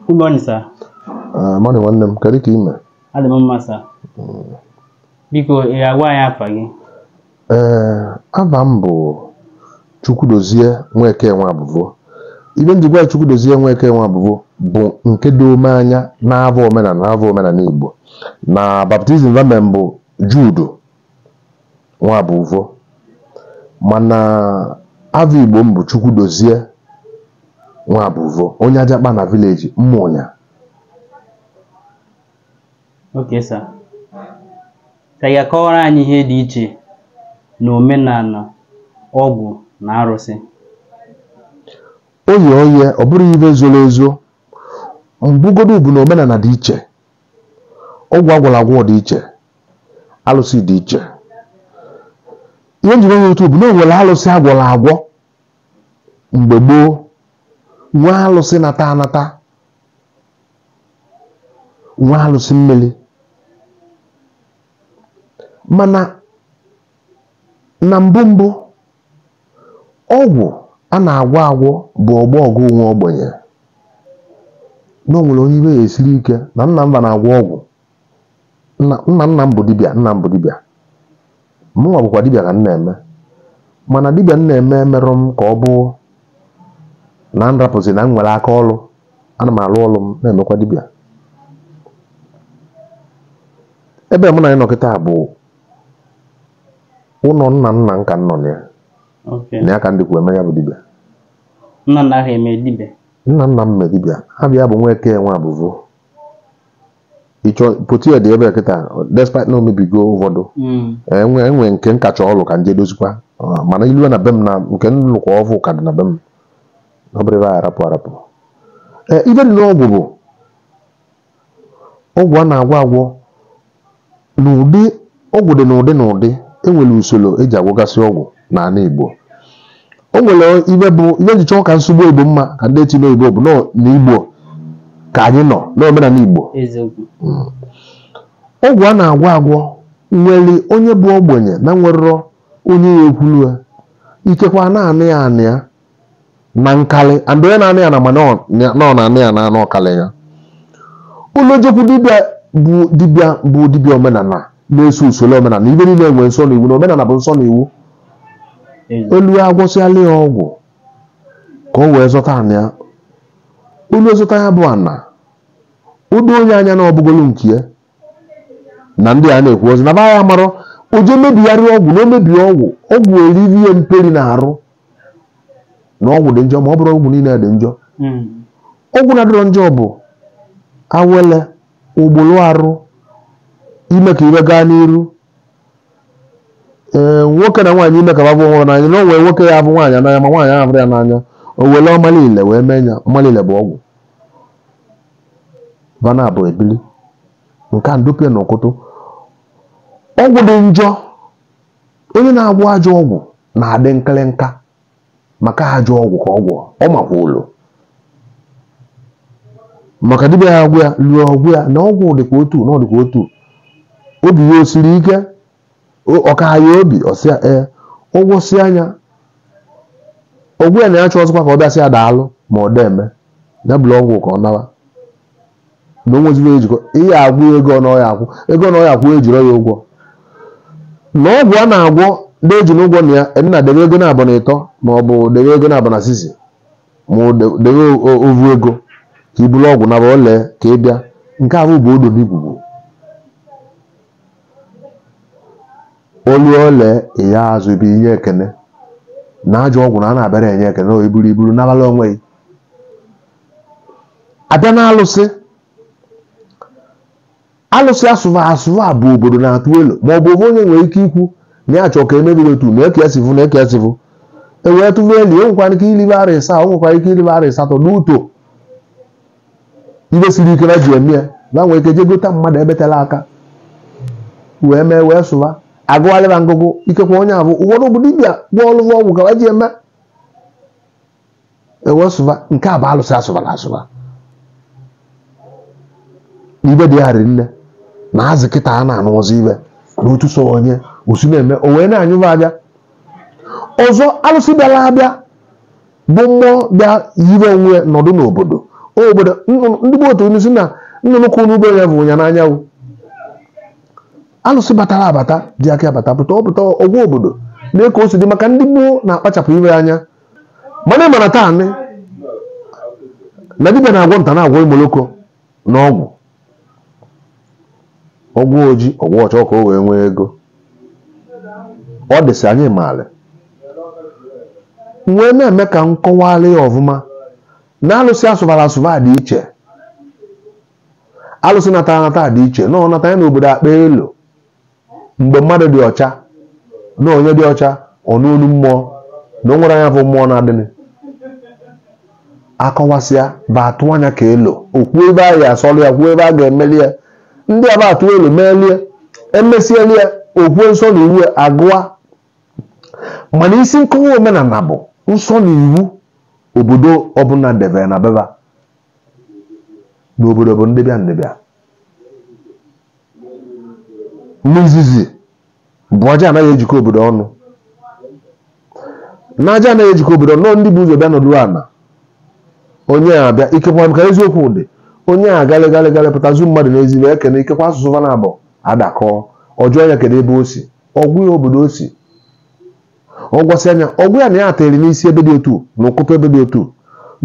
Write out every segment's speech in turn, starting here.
Good morning, sir. Ah, morning nwanne m kedu ka ị mere Adị m mma, sir. Biko, ị ga-agwa anyị afa gị? ee ava m bụ Chukwudozie Nweke Nwabụvo ive m ji gwa gị Chukwudozie Nweke Nwabụvo bụ nke doo m anya n'ava omenala n'ava omenana Igbo na baptism va mee m bụ Jude Nwabụvo mana ava Igbo m bụ Chukwudozie Nwabụvo onye Ajakpanị village Ụmụnya okay sir ị ga-akọwara anyị ihe dị iche na omenana ọgwụ na arụsị oye oye ọ bụrọ ive zolu ezo mbụ godu bụ na omenana dị iche ọgwụ a gwọlụ agwọ dị iche alụsị dị iche ihe m ji gwa gị otu a bụ na o nwelu alụsị a gwọlụ agwọ mgbe gboo nwee alụsị nata anata nwee alụsị mmili mana Na mbụ mbụ, ọgwụ a na-agwọ agwọ bụ ogbo ọgụ nwa ogbenye. Na o nwelu onye ive ya esirọ ike na nna m va na-agwọ ọgwụ. Nna nna m bụ dibịa, nna m bụ dibịa. Mụnwa bụkwa dibịa ka m na-eme. Mana dibịa m na-eme emerọ m ka ọ bụ na m rapụzi na m nwelu aka ọlụ. Ana m alụ ọlụ m na-emekwa dibịa. Ebe mụ na gị nọ kịta bụ ụnọ nna nna m ka m nọ na ya Okay. na ya ka m dịkwu eme ya bụ dibịa Nna nna ahụ eme dibịa. nna nna m mee dibịa ava ya bụ Nweke Nwabụvo ị chọpụta ya dị ebe a kịta despite na o mebigo ụvọdụ Mm. enwe enwe nke m ka chọlụ ka m je dozikwa Ah, mana i lue na be m na nke m lụkwa ọvụụ ka dị na be m ọ bụrọ ebe a arapụ arapụ ee ive dị n'ọgwụ bụ ọgwụ a na-agwọ agwọ n'ụdị ọgwụ dị n'ụdị n'ụdị e nwere usolo e ji agwọgasị ọgwụ n'ana Igbo o nwere ive bụ ihe m ji chọọ ka m sụọ Igbo Igbo mma ka ndị etinye oyibo bụ na ọ n'Igbo ka anyị nọ n'omenala Igbo eziokwu ọgwụ a na-agwọ agwọ nwere onye bụ ogbenye na-enwerọ onye ya-ekwulu ya ikekwe a na-ana ya ana ya na nkalị and onye na-ana ya ana ma na ọ na-ana ya ana na ọ kalị ya o lue o jekwu dibịa bụ dibịa bụ dibịa omenana na-eso usolo omenana ive niile nwere nsọ na iwu na omenana bụ nsọ na iwu Ezi. o lue ya agwọsịala ya ọgwụ ka o wee zọta ana ya o lue zọta ya bụ ana o doo onye anya na ọ bụgolu nke ya na ndị a na-ekwu ozi na ba ya mara oje mebigharị ọgwụ na o mebie ọgwụ ọgwụ eriri ya mperi n'arụ na ọgwụ dị njọ ma ọ bụrọ ọgwụ niile dị njọ Mm. ọgwụ na-adịrọ njọ bụ awele ogbolo arụ ime ka ive gaa n'iru ee nwoke na nwaanyị ime ka va vụ onwe ha n'anya na o nwee nwoke ya-avụ nwaanyị n'anya ma nwaanyị ahụ avụrọ ya n'anya o wele ọmalile wee mee ya ọmalile bụ ọgwụ va na-abụ ebili nke a ndopịa n'ụkụtụ ọgwụ dị njọ onye na-agwọ ajọ ọgwụ na-adị nkịrịnka maka ajọ ọgwụ ka ọ gwọ ọ makwa ụlọ maka dibịa ya agwụ ya lụọ ọgwụ ya na ọgwụ dịkwa otu na ọ dịkwa otu obi ya o siri ike ọ ka ya obi ọ sị ya ee ọ gwọsịa nya ọgwụ na ya chọzikwa ka ọ bịa sị ya daalụ ma ọ deme ya buru ọgwụ ka ọ nawa na o nweziri ejikọ ihe agwụ ego na ọ ya-akwụ ego na ọ ya-akwụ ejirọ ya ụgwọ na ọgwụ a na-agwọ ndị eji n'ụgwọ na ya nna debe ego nabọ na ịtọ ma ọ bụ debe ego nabọ na sisi ma ọ de- debe o- o- ovu ego ka i buru ọgwụ naba ole ka ị bịa nke ahụ bụ odo n'igwugwu olu ole ihe azụ bụ inye ekene na ajọ ọgwụ na a na-abịara enye ekene o i buru i buru nabalụ onwe gị a bịa na alụsị alụsị asụva asụva bụ obodo na-atụ elo ma ọ bụ ovu onye nwere ike ikwu na ya chọọ ka emebi otu na eke esivụ na eke esivụ e wee tụva elo o nwekwara ike ilibe arọ ịsaa o nwekwara ike ilibe arọ ịsatọ n'uto ive siri ike va ji eme ya na nwere ike je gota mmadụ ebetela aka wee mee wee sụva agụgharịba ngụgụ ikekwa onye abụ ụfọdụ bụ dibịa gwọ ọlụgwọ ọgwụ ka ji eme e wee sụva nke a bụ alụsị asụbara asụba ive dị ya nne na azị kịta a na-anụ ọzọ ibe na otu so onye osi na-eme o wee na-anyụba a bịa ọzọ alụsị bịara abịa bụ mmụọ bịa yiri onwe ya nọdụ n'obodo obodo nnụnụ- ndị bụ otu unu si na nnụnụ ka unu be ya bụ ya n'anyanwụ alụsị batara abata dị aka abata pụta ọ pụta ọ gwa obodo lee ka o si dị maka ndị gboo na-akpachapụ ive anya mana ị mara taa nị na dibịa na-agwọ nta na-agwọ imoloko n'ọgwụ ọgwụ oji ọgwụ ọcha ka o wee nwee ego ọ dịsị anyị maara m wee na-eme ka m kọwara ya ọfụma na alụsị asụbara asụba dị iche alụsị natara anata dị iche na ọ nata ya n'obodo akpa elu mgbe mmadụ dị ọcha na onye dị ọcha ọ nụ olu mmụọ na o nwere nya bụ mmụọ na-adịnị akọwasịa ba atụ anya ka elo okwu ebe a ya asọrọ ya kwuo ebe a ga-emeli ya ndị a ba atụ elo melie emesieli ya okwu nsọ na iwu agụa mana isi nkọwa omenala bụ nsọ na iwu obodo ọbụla debere na be ba n'obodo bụ ndị bịa ndị bịa n'izizi bụ aja ana ya ejikọ obodo ọnụ na aja ana ya ejikọ obodo ọnụ na ọ ndị bu ụzọ bịa nọdụ ana onye abịa ikekwa ka eziokwu dị onye a galị galị galị pụta zuo mmadụ n'ezi ekene ikekwa asụsụ va ana-abụ adakọ ọ jụọ nya kedu ebe o si ọ gwa ya obodo o si ọ gwasịa nya ọ gwa ya na ya ateri n'isi ebe dị otu na ụkụtụ ebe dị otu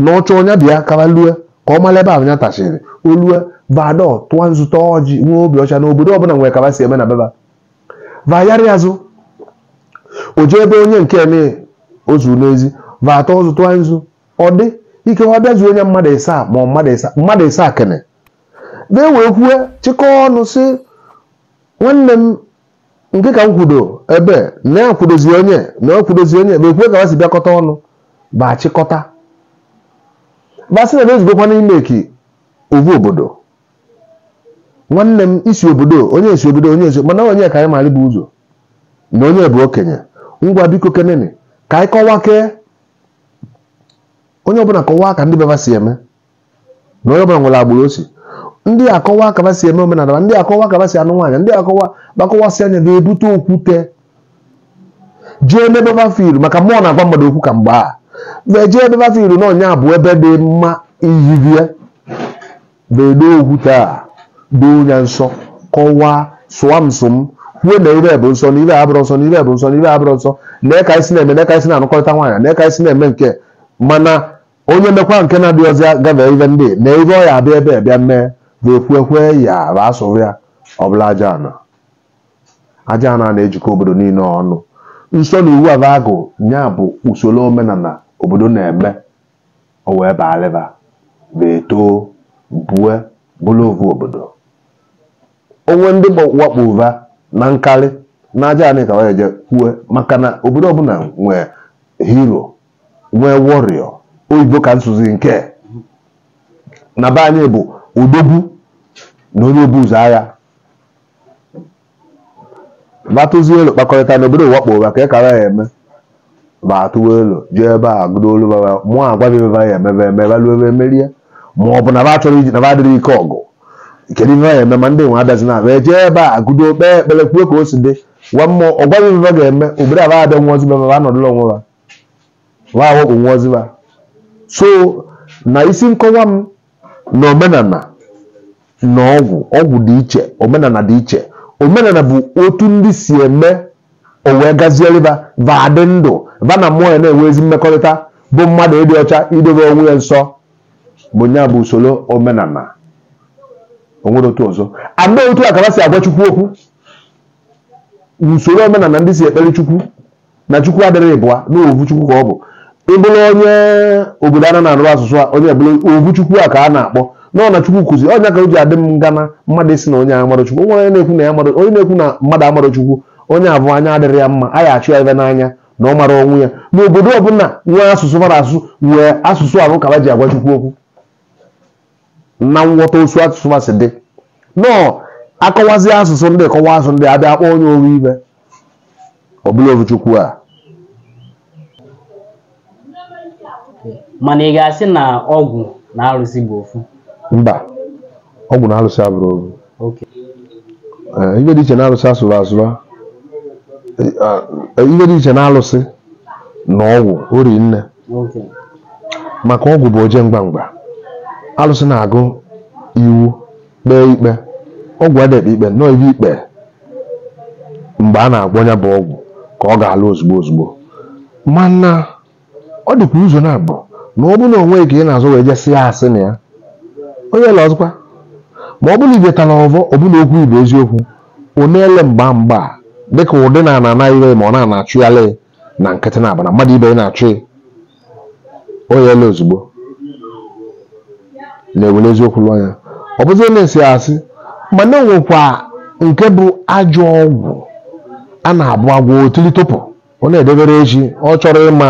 na ọ chọọ ọ nya bịa ka ba lue ka ọ mara ebe ahụ ya tachiri o lue vadọ tụọ nzu taa ọjị nwee obi ọcha na obodo ọbụla nwere ka ba si eme na be ba va ayarị azụ o jee ebe onye nke eme o zu n'ezi va atọ ezu tụọ nzu ọ dị ike ọ bịazu onye mmadụ ịsaa ma ọ mmadụ ịsaa mmadụ ịsaa kene bee wee kwue chịkọọ ọnụ sị nwanne m nke ka m kwudo ibe nya kwudozi onye na ọ kwudozi onye ma ekwue ka ba si bịakọta ọnụ ba achịkọta ba sị na ba ezugokwa n'ime ka ovu obodo nwanne m i si obodo onye e si obodo onye e si mana onye ka anyị mara bu ụzọ na onye bụ okenye ngwa biko kenenụ ka anyị kọwaa kee onye ọbụla kọwaa ka ndị be ba si eme na onye ọbụla nwere agbụrụ o si ndị akọwaa ka ba si eme omenala ma ndị akọwaa ka ba si anụ nwaanyị ndị akọwa ba akọwasịa nya ga-ebute okwute jee n'ebe ba fụlụ maka mmụọ na-agwa mmadụ okwu ka mgbe a wee jee ebe ba fụlụ na ọ nya bụ ebe dị mma iyibie na-ede okwute a doo nya nsọ kọwaa sọwa nsọ m kwuo na ive bụ nsọ na ive abụrọ nsọ na ive bụ nsọ na ive abụrọ nsọ na ka e si na-eme na ka e si na-anụkọrịta nwaanyị na ka e si na-eme nke mana onye mekwa nke na-adị ọzọ ya gafee ibe ndị na ibe ọ ya abịa ebe a bịa mee ga-ekwu ekwe ya bụ a sọrọ ya ọbụla aja ana aja ana na-ejikọ obodo niile ọnụ nsọ na iwu a ba agụ nya bụ usoro omenala obodo na-eme o wee baalịba wee too bue bụrụ ovu obodo o nwe ndị gba- wakpo ụva na nkarị na aja anị ka wee je kwue maka na obodo ọbụla nwee hero nwee warrior oyibo ka m sụzi nke na be anyị bụ odogwu na onye obu ụzọ agha ba atụzie elo kpakọrịta na obodo wakpo va kee ka a ya-eme ba atụwa elo jee ebe a gụdo olu baba mmụọ agwa ba ibe a ya-eme ba emee ba lụọ ba emerie ma ọ bụ na ba chọrọ iji na ba adịrọ ike ọgụ kedu ihe ya eme ma ndị nwe abịazi na abịa jee ebe a gụdo kpee ekpere kwuo ka o si dị gwa mmụọ ọ gwa ba ibe ga-eme obodo aba abịa nwa ozi ba ba anọdụla onwe ba wa awakpo nwụọzi ba so na isi nkọwa m na omenala na ọgwụ ọgwụ dị iche omenala dị iche omenala bụ otu ndị si eme o wee gazieri ba va adị ndụ va na mmụọ ya na-enwe ezi mmekọrịta bụ mmadụ ịdị ọcha idobe onwe ya nsọ bụ nya bụ usoro omenala o nwere otu ọzọ a ma otu a ka ba si agwa chukwu okwu usoro omenala ndị si ekpere chukwu na chukwu adịrọ ịbụa na ovu chukwu ka ọ bụ ị bụrụ onye obodo a na-asụ asụsụ a onye bụrụ ovu chukwu a ka a na-akpọ na ọ na chukwu kụzi ọ nya ka o ji adị m ngana mmadụ ịsị na onye amarọ chukwu nwere onye na-ekwu na ya amarọ onye na-ekwu na mmadụ amarọ chukwu onye abụ anya adịrọ ya mma a ya achụ ya ibe n'anya na ọ marọ onwe ya na obodo ọbụla nwee asụsụ mara asụsụ nwee asụsụ ahụ ka ha ji agwa chukwu okwu na nghọta osu asụsụ ha si dị nọọ akọwazi asụsụ ndị kọwa asụsụ ndị abịa akpọ onye oru ibe ọbụla ovu chukwu a mana ị ga-asị na ọgwụ na arụsị bụ ofu mba ọgwụ na alụsị abụrọ ovu kee ihe dị iche na alụsị asụrụ asụrụ a. Ee, ihe dị iche na alụsị na ọgwụ o ri nne maka ọgwụ bụ oje mgba mgba alụsị na-agụ iwu kpee ikpe ọgwụ adịghị ekpe ikpe na o bie ikpe mgbe a na-agwọ nya bụ ọgwụ ka ọ ga-alụ ozugbo ozugbo mana ọ dịkwa ụzọ naabọ na ọ bụrụ na o nwe ka ị na-azụ wee jesị ya asị na ọ ya-ele ọzọkwa ma ọ bụrụ ibe tala ọvọ ọ bụrụ okwu ibe eziokwu ọ na-ele mgba mgba dịka ụdị na ana anaghị ma ọ na-achụgharị na nkịtị na ọ bụ na mmadụ ibe ya na-achụ ya ọ ya-ele ozugbo na e were eziokwu lụọ ya ọ bụzi na e sị asị mana e nwekwa nke bụ ajọ ọgwụ a na-abụ agwọ otili tụpụ ọ na-edebere echi ọ chọrọ ịma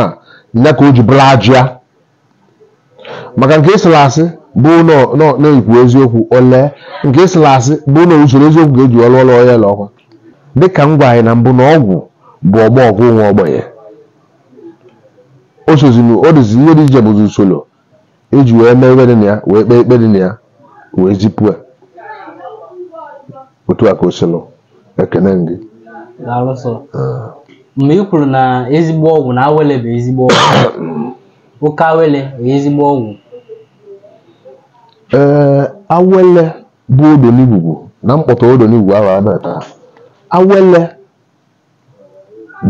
ya ka o ji bụrụ ajọ ya maka nke ị sịrị asị bụ nọ- nọ- na ikwu eziokwu o lee nke ị sịrị asị bụ na usoro eziokwu ga-eji alụ ọlụ ọ ya-ele ọkwa dịka m gwa anyị na mbụ na ọgwụ bụ ogbo ọgụ nwa ogbenye ọ sọzi na ọ dịzi ihe dị iche bụzi usoro eji wee mee ibe dị na ya wee kpee ikpe dị na ya wee zipụ ya otu a ka o silụ ekene gị daalụ sọ mgbe ị kwuru na ezigbo ọgwụ na awele bụ ezigbo ọgwụ okay awele bụ ezigbo ọgwụ ee awele bụ odonigwugwu na mkpọtụ odonigwugwu ahụ a na-ata awele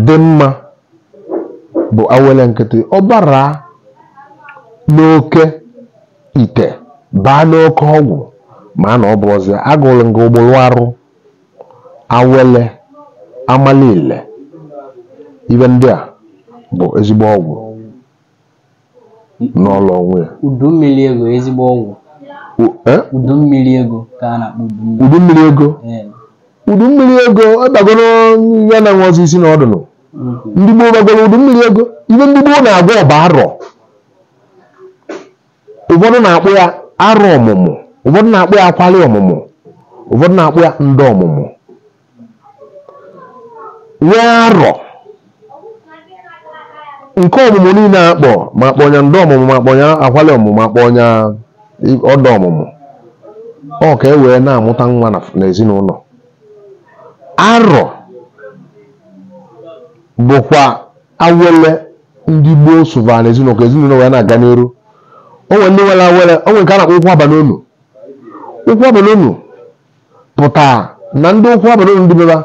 dị mma bụ awele nkịtị ọ bara n'oke ite baa n'oke ọgwụ ma na ọ bụ ọzọ agụrụ nga ụgbọrụ arụ awele amalile ibe ndị a bụ ezigbo ọgwụ n'ọlụ onwe ya udu mmiri ego ezigbo ọgwụ U- eh? udu mmiri ego ka a na-akpọ udu mmiri udu mmiri ego Ee. udu mmiri ego ịbagoro ya na nwezi isi na ọdụnụ Mhm. ndị gboo ba agwọrọ udu mmiri ego ibe ndị gboo na-agwọ bụ arọ ụfọdụ na-akpọ ya arọ ọmụmụ ụfọdụ na-akpọ ya akwali ọmụmụ ụfọdụ na-akpọ ya ndị ọmụmụ nwee arọ nke ọmụmụ niile a kpọ ma kpọ ya ndị ọmụmụ ma kpọ ya akwali ọmụmụ ma kpọ ya i- ụdọ ọmụmụ ọ ka e wee na-amụta nwa na- n'ezinụlọ arọ bụkwa awele ndị gboo sụvara n'ezinụlọ ka ezinụlọ wee na-aga n'iru o nwere ndị nwere awele o nwere nke a na-akpọ ụkwụ aba n'ụnọ ụkwụ aba n'ụnọ pụta na ndị ụkwụ aba n'ụnọ ndị be ba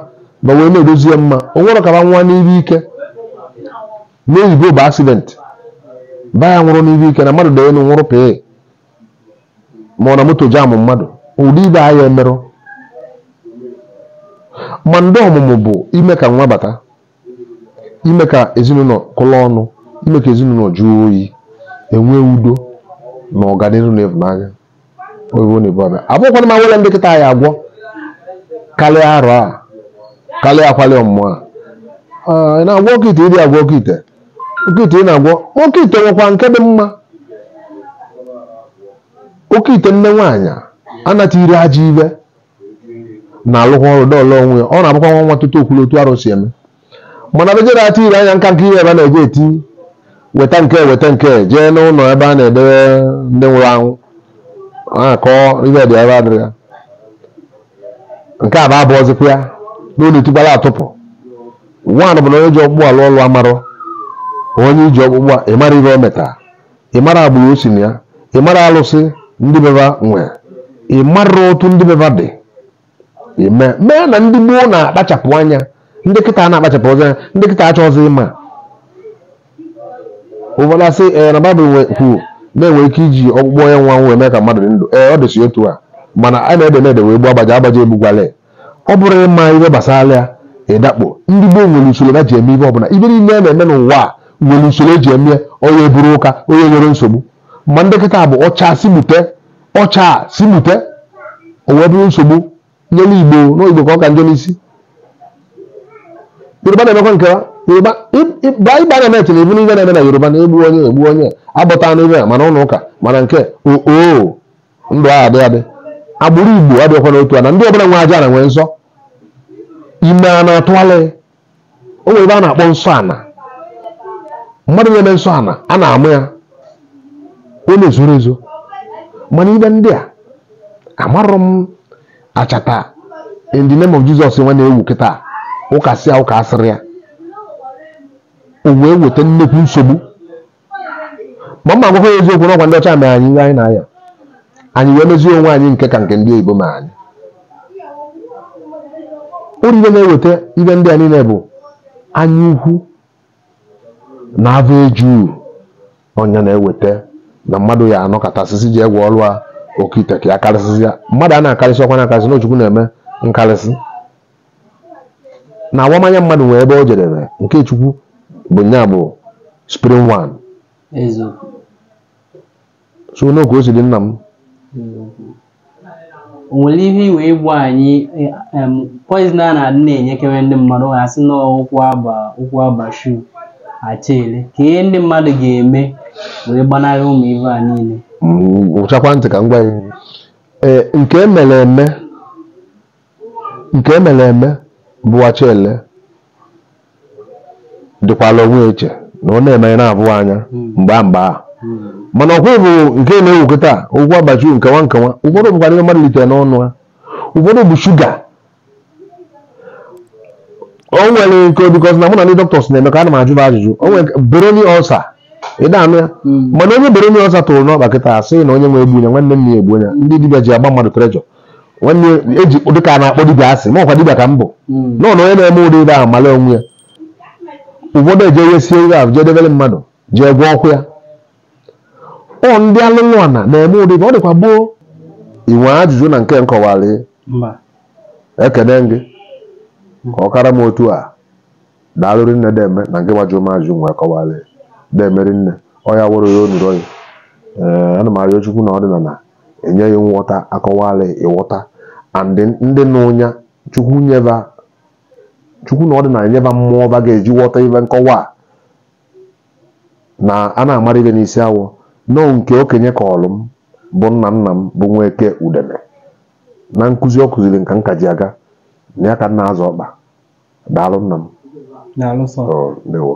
ba wee na-edozi ya mma o nwere ka ba nwa n'ibe ike n'oyibo bụ accident ba ya nwụrụ n'ibe ike na mmadụ dị elu nwụrụ pee ma ọ na moto jamụ mmadụ ụdị ibe ahụ emerụ ma ndị ọmụmụ bụ ime ka nwa bata ime ka ezinụlọ kụlọ ọnụ ime ka ezinụlọ jụọ oyi enwee udo na ọganihu na ịhụnanya oyibo na ibada abụkwana ma nwere ndị kịta anyị agwọ karịa arọ a karịa akwali ọmụmụ a Ah, ị na-agwọ oke ite ịdị agwọ oke ite oke ite ị na-agwọ oke ite nwekwa nke dị mma oke ite nne nwaanyị anata iri aja ibe na-alụkwa ọrụ dọọlụ onwe ya ọ na-abụkwa nwa nwa tutu okwuru otu arụ si eme mana bejere ati ire anya nka nke ihe ebe a na-eje eti weta nke weta nke jee n'ụlọ ebe a na-edebe ndị nwụrụ anwụ a na-akọ ihe dị ebe adịrị ya nke a bụ abụ ọzịkwa ya n'ụlọ etikwala atụpụ nwaanyị bụ na onye ji ọkpụkpụ alụ ọlụ amarọ onye o ji ọkpụkpụ a ị mara ihe o metara ị mara agbụrụ o si na ya ị mara alụsị ndị be ha nwee ị mara otu ndị be ha dị mana ndị gboo na-akpachapụ anya ndị kịta akpachapụrọzị anya ndị kịta achọghịzị ịma ụfọdụ asị ee na baịbụl nwe- kwuru na-enwe ike iji ọkpụkpụ onye nwụrụ anwụ eme ka mmadụ dị ndụ ee ọ dịsị otu a mana a na-ede na-ede wee gbuo agbaja agbaja egbugwale ọ bụrụ ịma ihe gbasara ya ịdakpo ndị gboo nwere usoro ha ji eme ihe ọbụla ihe niile a na-eme n'ụwa a nwere usoro eji eme ya onye eburu ụka onye nwere nsogbu ma ndị kịta bụ ọcha si mute ọcha si mute o wee bụrụ nsogbu nyere igbo n'igbo ka ọ ka njọ n'isi yoruba na-emekwa nke ha yoruba baa ịba na net na ịhụ ihe niile na-eme na yoruba na-egbu onye egbu onye agbata anụ ibe ya mana ụlọ ụka mana nke oo ndụ ahụ adị adị agbụrụ igbo adịghịkwa n'otu a na ndị ọbụla nwe aja ana nwee nsọ ime a na-atụgharị o nwere ihe a na-akpọ nsọ ana mmadụ na-eme nsọ ana a na-amụ ya ọ na-ezoro ezo mana ihe ndị a amarọ m achata in the name of Jesus nwa na-ewu kịta ụka si ụka asịrị ya o wee weta nnekwu nsogbu ma m ma-agwakwa gị eziokwu na ọkwa ndị ọcha mere anyị ihe anyị na-aya anyị wee mezie onwe anyị nke ka nke ndị oyibo mana ị hụrụ ihe na-eweta ihe ndị a niile bụ anya ukwu na avọ eju ọ nya na-eweta na mmadụ ya anọkata sị sị jee gwọọrụ ya oke ite ka ya karịsịsịa mmadụ a na-akarịsị ọkwa na-akarịsị na ọ chukwu na-eme nkarịsị na awamanya mmadụ nwee ebe o jedere nke chukwu bụ nya bụ supreme one eziokwu so ọ nọọ ka o si dị nna m eziokwu o nwere ihe i nwe ịgwa anyị eh, em, poison a na-adị na-enyekewe ndị mmadụ ha sị na ụkwụ aba ụkwụ aba shu achele kee ihe ndị mmadụ ga-eme wee gbanarị ụmụ ihe a niile Mm, gechakwa ntị ka m gwa gị ee nke mere eme nke e mere eme bụ Achele dịkwala onwe ya iche na ọ na-eme a na-ahụ ya anya mgbe a mgbe a mana ọkwa bụ nke na-ewu kịta ụkwụ aba shu nkewa nkewa ụfọdụ bụkwara ihe mmadụ litere n'ọnụ ha ụfọdụ bụ shuga o nwere nke bikọs na mụ na ndị dọkịta si na-emekọ ana m ajụ ajụjụ o nwere Buruli ulcer ị na-anụ ya mana onye Buruli ulcer tụrụ n'ọkpa kịta asị na onye nwe egbu ya nwanne m ya egbu ya ndị dibịa ji agba mmadụ trejọ nwanne eji dị ka a na-akpọ dibịa asị ma ọkwa dibịa ka m bụ Mm. nọ na onye na-eme ụdị ihe ahụ mara onwe ya ụfọdụ eje wesie ihe ahụ jee debere mmadụ jee gwa okwu ya ọ ndị alụlụ ana na-eme ụdị ihe ọ dịkwa gboo i nwe ajụjụ na nke m kọwara Mba. ekene m gị ka ọ kara m otu a daalụ rinne deme na nke gbajụ m ajụjụ m wee kọwara ya deme rinne ọ ya wụrụ ya onuru oyi ee ana m arịọ chukwu na ọdịnala enye ghị nghọta a kọwala ị ghọta and ndị nụ ya chukwu nye ba chukwu na ọdịnala nye ba mmụọ ba ga-eji ghọta ibe m kọwaa na a na-amara ibe n'isi awọ nọọ nke okenye kọọlụ m bụ nna nna m bụ nweke udene na nkụzi ọ kụziri m ka nka ji aga na ya ka m na-azọ ọkpa daalụ nna m Daalụ sọ. Oh, ndewo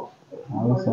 Daalụ sọ.